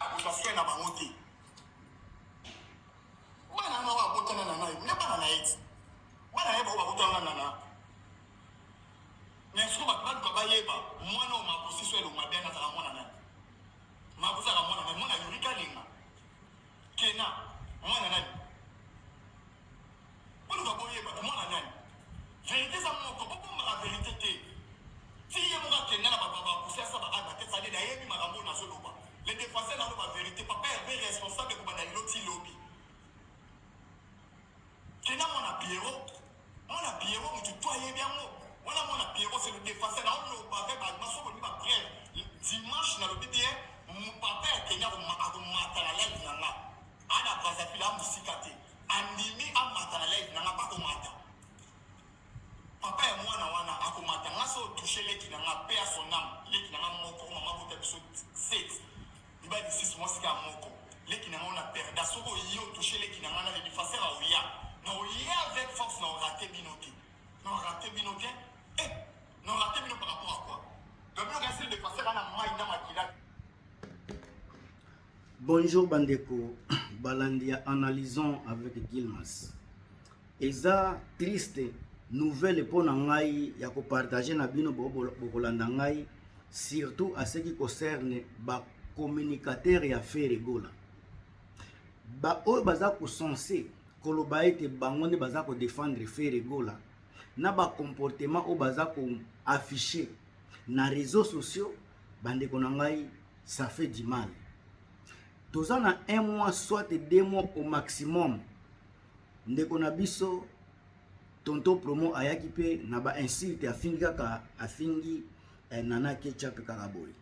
akozwa soin na bango te bana yango abotana na nayo nde bana na ye ti bana ye bango bakotanga na na mais soko bato baluka bayeba mwana oyo makosi so elongo mabe azala mwana nani makosi azala mwana nani mwana yorika alenga kena mwana nani Boluka boyeba na mwana nani. Verite eza moko, bobombaka verite te. Ti ye moko akenda na baba bakufi asaba ada te sale nayebi makambo oyo nazoloba. Le defansel aloba verite, papa Herve responsable ekobanda lelo ti lobi. Kenda mwana Piero, mwana Piero mutu to ayebi yango. Wana mwana Piero c'est le defansel aoloba avec ba maso boni ba preuve. Dimanche nalobi bien, papa ya Kenya akomata na live na nga. Ana Brazzaville a musika te andimi amata na live nanga pa komata papa ya mwana wana akomata nga so touche leki na nga pe a son âme leki na nga moko mama bota biso 7 mibali 6 mwasi ka moko leki na nga ona perda soko yo touche leki na nga na leki faser aoya na oya avec force na orate bino te na orate bino te eh na orate bino par rapport à quoi donc bino kasi le faser ana mai na makila Bonjour bandeko balandi ya analysons avec Gilmas. Eza triste nouvelle mpo na ngai ya kopartage na bino bokolanda ngai surtout à ce qui concerne ba communicateur ya Ferre Gola baoyo baza kosense koloba ete bango nde baza kodefendre Ferre Gola na bacomportement oyo baza koaffiche na réseau sociaux bandeko na ngai ça fait du mal toza na un mois soit deux mois au maximum ndeko na biso tonto promo ayaki mpe na ba insulte afingi kaka afingi eh, nana kecha mpe kaka boye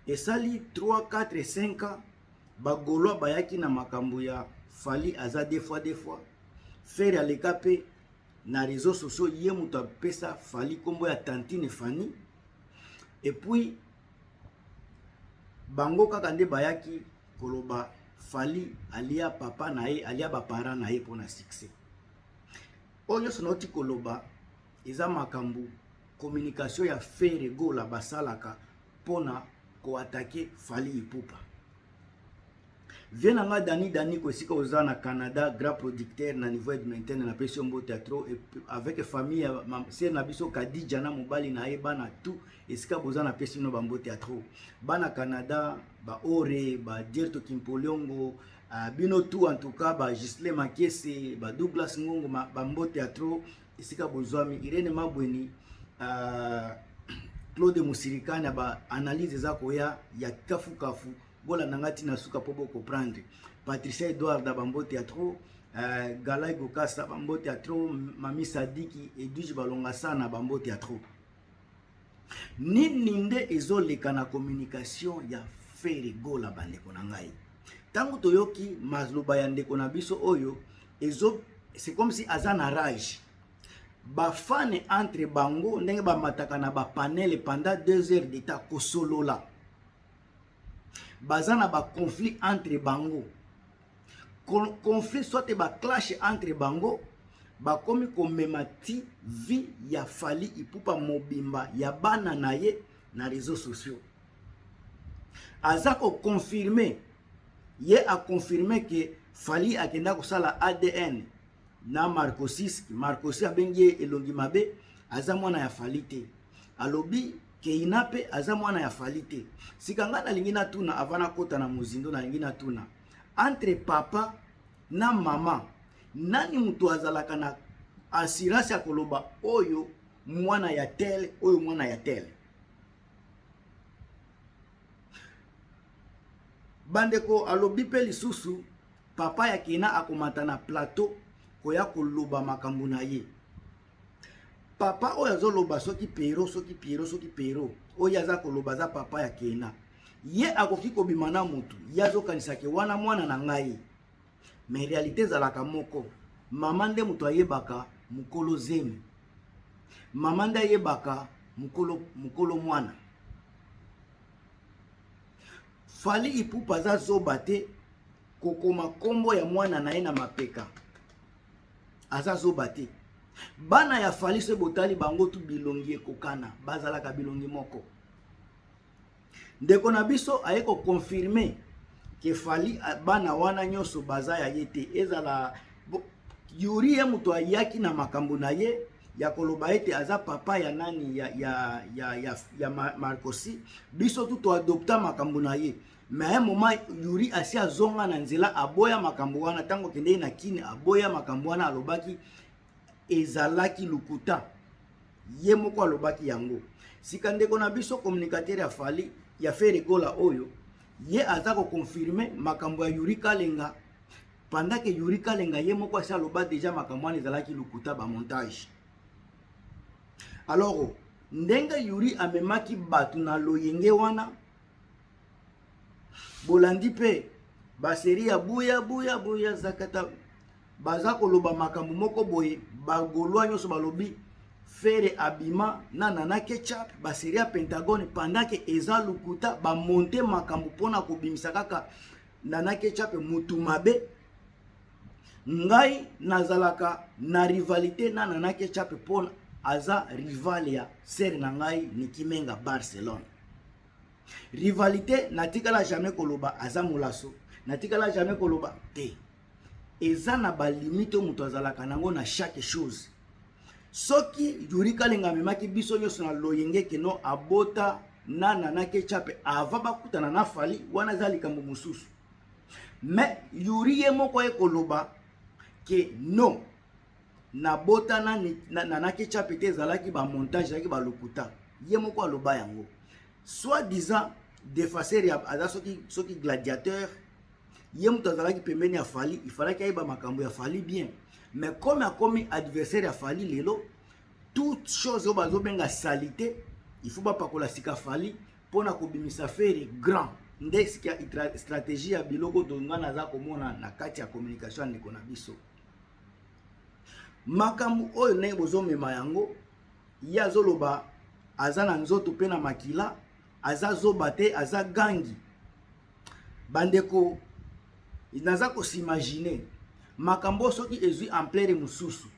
esali 3 4 5 ans bagolois bayaki na makambo ya fali aza de fois de fois fere aleka mpe na réseau sociaux ye moto apesa fali nkombo ya tantine fani epuis bango kaka nde bayaki koloba fali alia papa na ye alia baparent na ye mpo na succès oyo nyonso nauti koloba eza makambo communication ya fere gola basalaka mpo na koatake fali ipupa vie na nga dani dani ko esika oza na canada grand producteur na niveau edmonton na pesi yo mbote ya trop avec famille ya ser na biso kadija na mobali na ye bana tout esika boza na pesi bino bambote ya trop bana canada baore badierto kimpoliongo uh, bino tout en tout cas bagisle makese badouglas ngongo bambote ya trop esika bozwami irene mabweni uh, claude mosirika na baanalyse eza koya ya kafukafu bolanda ngai ntina suka mpo bokomprendre patricia edward na bambote ya trop uh, galai kokasa bambote ya trop mami sadiki edwige balonga sana bambote ya trop nini nde ezoleka na communication ya Ferre Gola bandeko na ngai ntango toyoki maloba ya ndeko na biso oyo ezo c'est comme si aza na rage bafane entre bango ndenge bamataka na bapanele pendant deux heures d'état kosolola baza na baconflit entre bango conflit soit ba clash entre bango bakomi komema ti vie ya fali ipupa mobimba ya bana na ye na réseaux sociaux aza koconfirme ye aconfirme ke fali akenda kosala adn na marcosis marcosis abengi ye elongi mabe aza mwana ya fali te alobi Keyna pe aza mwana ya Fally te. Sika nga nalingi natuna avant nakota na mozindo nalingi natuna entre papa na mama nani moto azalaka na assurance ya koloba oyo mwana ya tel oyo mwana ya tel bandeko alobi mpe lisusu papa ya kena akomata na plateau koya koloba makambo na ye papa oyo azoloba soki pero soki piero soki pero oyo aza koloba aza papa ya kena ye akoki kobima na motu ye azokanisake wana mwana na ngai me realite ezalaka moko mama nde moto ayebaka mokolo zemi mama nde ayebaka mokolo, mokolo mwana fali ipupa aza zoba te kokoma nkombo ya mwana na ye na mapeka aza zoba te bana ya fali se botali bango tu bilongi ekokana bazalaka bilongi moko ndeko na biso aye koconfirme ke fali bana wana nyonso baza ya ye te ezala yuri ye moto ayaki na makambo na ye ya koloba ete aza papa ya nani ya, ya, ya, ya, ya marcosi biso tu toadopta makambo na ye mais à un moment Yuri asi azonga na nzela aboya makambo wana ntango akendeki na kine aboya makambo wana alobaki ezalaki lokuta ye moko alobaki yango sika ndeko na biso communicateur ya fali ya ferigola oyo ye aza koconfirme makambo ya Yuri Kalenga pendant que Yuri Kalenga ye moko asi aloba deja makambo wana ezalaki lokuta bamontage alors ndenge Yuri amemaki bato na loyenge wana bolandi mpe baseri ya buya buya buya zakata baza koloba makambo moko boye bagolwa nyonso balobi fere abima na nana ketchup baseri ya pentagone pendant ke eza lokuta bamonte makambo mpona kobimisa kaka nana ketchup motu mabe ngai nazalaka na rivalite na nana ketchup mpona aza rival ya sere na ngai nikimenga barcelone rivalite natikala jamais koloba aza molaso natikala jamais koloba te eza na balimite oyo moto azalaka nango na chaque chose soki yuri kalenga amemaki biso nyonso na loyenge keno abota na nana kecha mpe ava bakutana na fali wana eza likambo mosusu me yuri ye moko ye koloba ke non nabota nani na, na, na kechape te ezalaki bamontage ezalaki balokuta ye moko aloba yango soit disant defaser ya aza soki, soki gladiateur ye moto azalaki pembeni ya fali ifalaki ayeba makambo ya fali bien mais comme akomi adversaire ya fali lelo toute chose oyo bazobenga salite il faut bapakola sika fali mpo na kobimisa fere grand nde stratégie ya biloko to ngai naza komona na kati ya communication ya ndeko na biso makambo oyo ndenge bozomema yango ye azoloba aza na nzoto mpe na makila aza zoba te aza gangi bandeko naza kosimagine makambo oyo soki ezwi amplere mosusu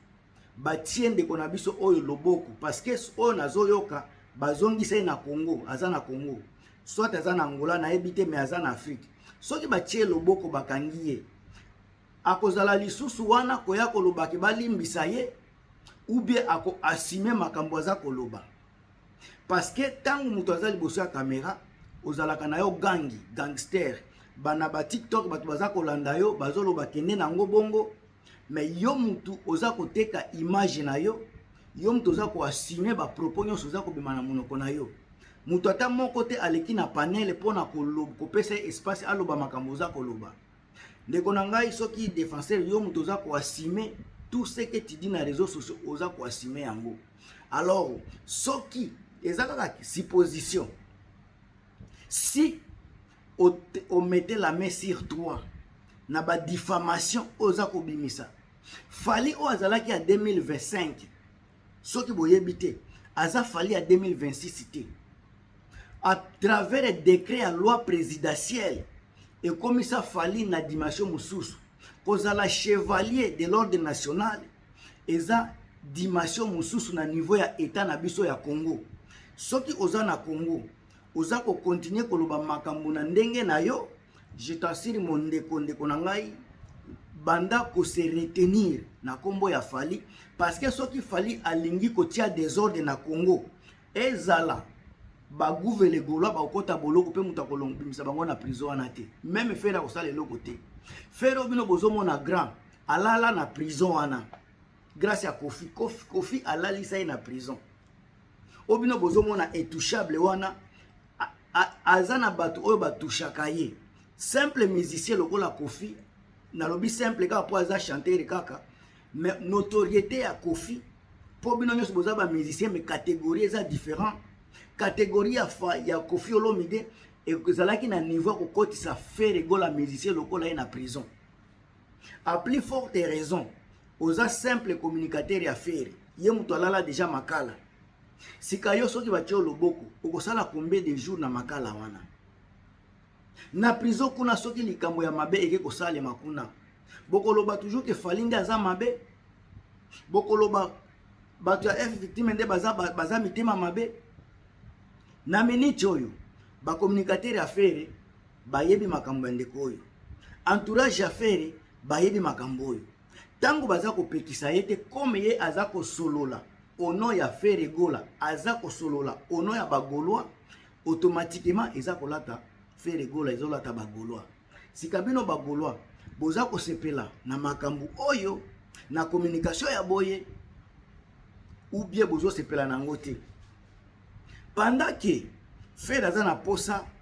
batie ndeko na biso oyo loboko parceke oyo nazoyoka bazongisa ye na congo aza na congo soit aza na angola nayebi te mais aza na afrike soki batie loboko bakangi ye akozala lisusu wana koya koloba ke balimbisa ye ou bien ako assume makambo aza koloba parce que ntango moto aza liboso ya kamera ozalaka na yo gangi gangster bana ba tiktok bato baza kolanda yo bazoloba kende na yango bongo me yo motu oza koteka image na yo yo moto oza koassume bapropos nyonso oza kobima na monoko na yo moto ata moko te aleki na panele mpo na kopesa ye espace aloba makambo oza koloba ndeko na ngai soki defenseur yo moto oza koasime tout ce que tu dis na réseau sociaux oza koasime yango alors soki eza kaka supposition si omete la main sur toi na badifamation oyo oza kobimisa fali oyo azalaki ya 2025 soki boyebi te aza fali ya 2026 te à travers décret ya loi présidentielle ekomisa fali na dimension mosusu kozala chevalier de l'ordre national eza dimension mosusu na niveau ya etat na biso ya congo soki oza na congo oza ko continuer koloba makambo na ndenge na yo je t'assure mon ndeko ndeko na ngai banda ko se retenir na kombo ya Fally parce que soki Fally alingi kotia desordre na Congo ezala baguvele golois bakokɔta boloko mpe moto akolobimisa bango na prison wana te meme fere akosala eloko te fere oyo bino bozomona grand alala na prison wana grâce ya kofi kofi, kofi alalisa ye na prison oyo bino bozomona etouchable wana aza na bato oyo batouchaka ye simple musicien lokola kofi nalobi simple kaka mpo aza chanteur kaka mais notoriété ya kofi mpo bino nyonso boza bamusicien mais catégorie eza différent catégorie ya, fa, ya kofi olomide ezalaki na niveau ya kokotisa fere gola musicien lokola ye na prison a plus forte raison oza simple communicateur ya feri ye moto alala deja makala sika yo soki batye loboko okosala combien de jour na makala wana na prison kuna soki likambo ya mabe eke kosalema kuna bokoloba toujours ke fali nde aza mabe bokoloba bato ya f victime nde baza, baza mitema mabe na miniti oyo bacommunicateur ya fere bayebi makambo ya ndeko oyo entourage ya fere bayebi makambo oyo ntango baza kopekisa ye te kome ye aza kosolola ono ya fere gola aza kosolola ono ya bagolois automatiquement eza kolata fere gola ezolata bagolois sika bino bagolois boza kosepela na makambo oyo na communication ya boye ou bien bozosepela na yango te pendant ke fere aza na posa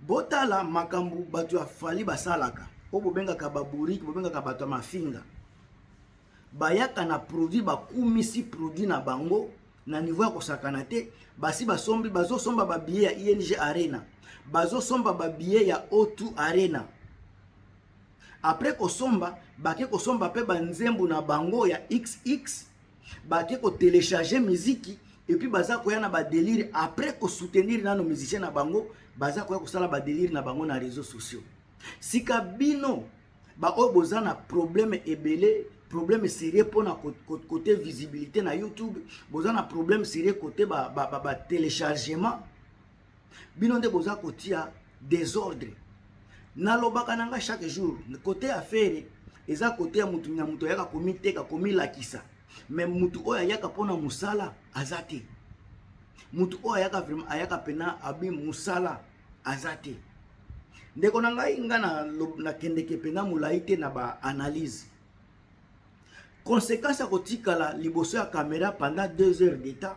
botala makambo bato ya fali basalaka oyo bobengaka baburike bobengaka bato ya mafinga bayaka na produit bakumisi produit na bango na niveau ya kosakana te basi basombi bazosomba babiye ya ing arena bazosomba babiye ya o2 arena apres kosomba bake kosomba mpe banzembo na bango ya xx bake ko télécharger miziki et puis baza koya na ba délire après ko soutenir nano musicien na bango baza koya kosala ba délire na bango na réseaux sociaux sika bino baoyo boza na problème ebele problème sérieux mpo na côté visibilité na youtube boza na problème sérieux côté ba, ba, ba, ba téléchargement bino nde boza kotia desordre nalobaka na nga chaque jour kote ya fere eza kote ya motu na motu ayaka komiteka komilakisa me motu oyo ayaka mpona mosala aza te motu oyo ayaka vraiment ayaka mpena abi mosala aza te ndeko na ngai nga nakendeke na mpena molai te na baanalyse konsekansi ya kotikala liboso ya kamera pendant deux heures d'etat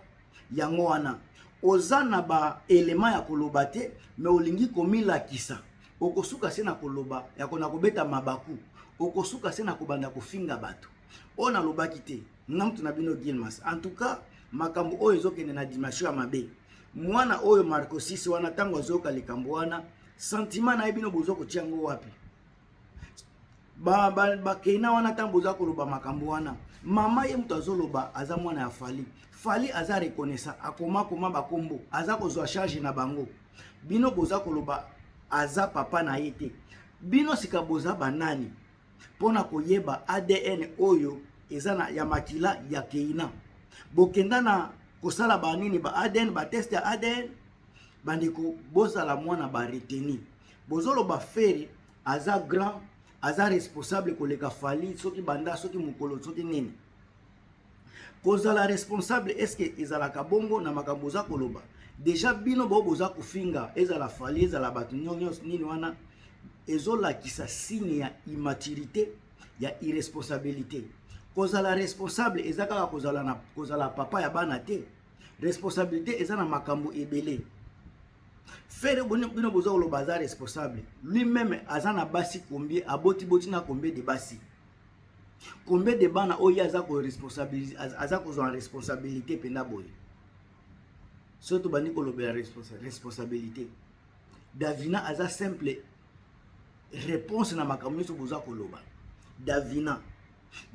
yango wana oza na ba element ya koloba te mais olingi komilakisa okosuka se na koloba ya kona kobeta mabaku okosuka se na kobanda kofinga bato oyo nalobaki te nga moto na bino gilmas en tout cas makambo oyo ezokende na dimension ya mabe mwana oyo marco 6 wana ntango azoyoka likambo wana sentiment na ye bino bozo kotia yango wapi bakei na wana ntango boza koloba makambo wana mama ye moto azoloba aza mwana ya fali fali aza reconnaissant akoma koma bakombo aza kozwa charge na bango bino boza koloba aza papa na ye te bino sika boza banani mpo na koyeba adn oyo eza na ya makila ya keina bokenda na kosala banini ba adn bateste ya adn bandeko bozala mwana ba reteni bozoloba fere aza grand aza responsable koleka fali soki banda soki mokolo soki nini kozala responsable eske ezalaka bongo na makambo oza koloba deja bino bao boza kofinga ezala fali ezala bato nyonso nini wana ezolakisa signe ya immaturité ya irresponsabilité kozala responsable eza kaka kozala, na, kozala papa ya bana te responsabilité eza na makambo ebele fere bino boza koloba aza responsable lui-même aza na basi combien aboti boti na combien de basi combien de bana oyo aza ko responsabiliser aza kozwa responsabilité mpenza boye soki tobandi kolobela responsabilité davina aza simple réponse na makambo nyonso boza koloba davina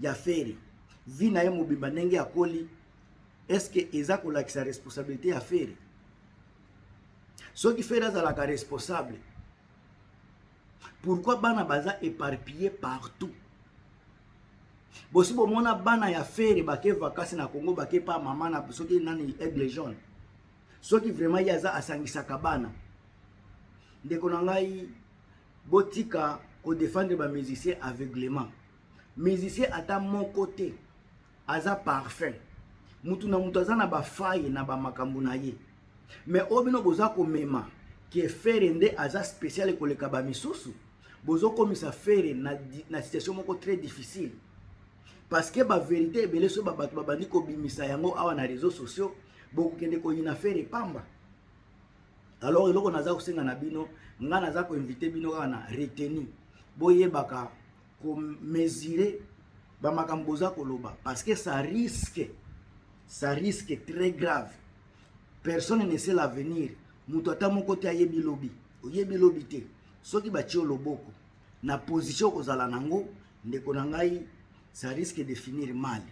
ya feri vi na ye mobimba ndenge akoli est-ce que eza kolakisa responsabilité ya Ferre? Soki Ferre azalaka responsable, pourquoi bana baza éparpillé partout? bosi bomona bana ya Ferre bake vacances na Congo bake pa mama na soki nani aigle jaune soki vraiment ye aza asangisaka bana ndeko na ngai botika kodefendre bamusicien aveuglement musicien ata moko te aza parfait mutu na mutu aza na bafaye na bamakambo na ye me oyo bino boza komema ke fere nde aza spesiale koleka bamisusu bozokomisa fere na, na situation moko très difficile parce que baverité ebele soki babato babandi kobimisa yango awa na réseau sociaux bokokende koyina fere pamba alors eloko naza kosenga na bino ngai naza koinvite bino kaka na retenu boyebaka ko mesurer ba makambo boza koloba parce que ça risque ça risque très grave personne ne sait l'avenir moto ata moko te ayebi lobi oyebi lobi te soki batie yo loboko na position okozala nango ndeko na ngai ça risque de finir mal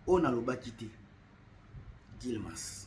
oyo nalobaki te gilmas